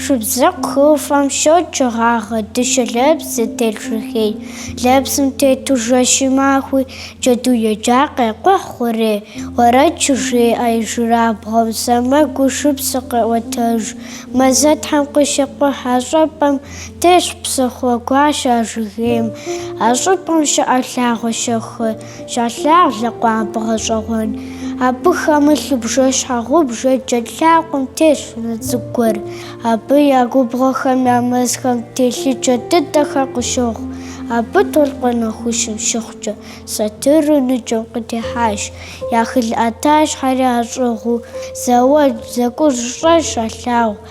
Шабзэкъу хыӏуфэм щокӏ гъагъэу дыщэ лэпс зытелъ жыгей. Лэпсым тету жэщи махуи джэду еджа къекӏухь хъурей. Уэрэд щыжеӏэ ижьырабгъуу сэмэгу шыпсэр къеӏуэтэж. Мэзытхьэм къыщекӏухь а щӏыпӏэм, тесщ псыхъуэ гуащэ а жыгейм. А щӏыпӏэм щыӏэ лъагъуэ щэху. Щалъагъу лъэкъуампӏэ гъэщӏэгъуэн. Абы хэмылъу бжэщхьэгъубжэ джэд лъакъуэм тетщ унэ цӏыкӏу гуэр. Абы я губгъуэхэм я мэзхэм телъыджэ дыдэхэр къыщохъу. Абы толъкъун нэхущым щыхъукӏэ, сатыру ныджэм къытехьащ. Я хылӏ ӏэтащхьэри ящӏыгъуу, зауэлӏ зэкӏуж щэщӏ щалъагъу.